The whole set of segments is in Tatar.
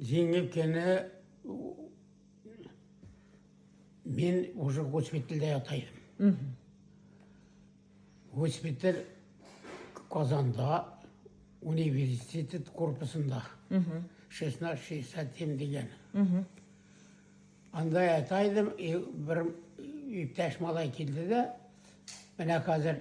Җиңел кенә мин уже госпитальдә ята идем. Госпиталь Казанда университет корпусында. 1667 дигән. Анда ята идем, бер иптәш малай килде дә, менә хәзер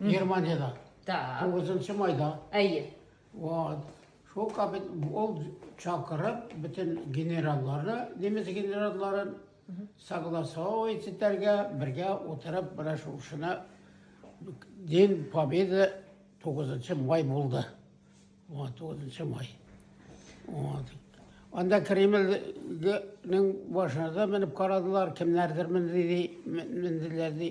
Германияда. Так. 9 майда. Әйе. Вот. Шул кабин ул чакырып бөтен генералларны, немец генералларын согласовывать итәргә, бергә утырып менә шушына День Победы 9 май булды. Вот 9 май. Вот. Анда Кремльнең башына да менеп карадылар, кемнәрдер менделәр ди.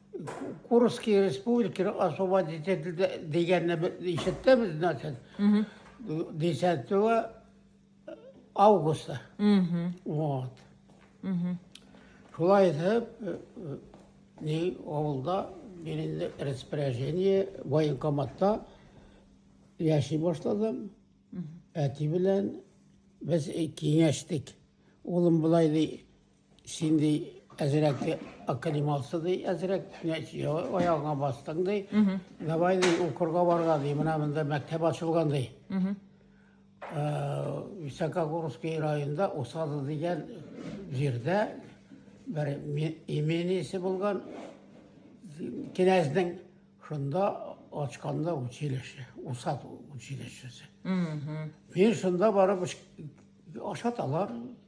Курский республиканы освободить ителде дигәнне ишеттебез, значит, десятого августа. Вот. Шулай итеп, э, э, ни авылда мин распоряжение военкоматта яши башладым. Әти белән без киңәштек. Улым болай ди, Син ди әзрәк академался ди әзрәк аягыңа бастың ди давай ди укырга барга ди менә монда мәктәп ачылган ди високогорский районында усады дигән җирдә бер имениясе булган кенәзнең шунда ачканда училище усад училищесы мин шунда барып ашаталар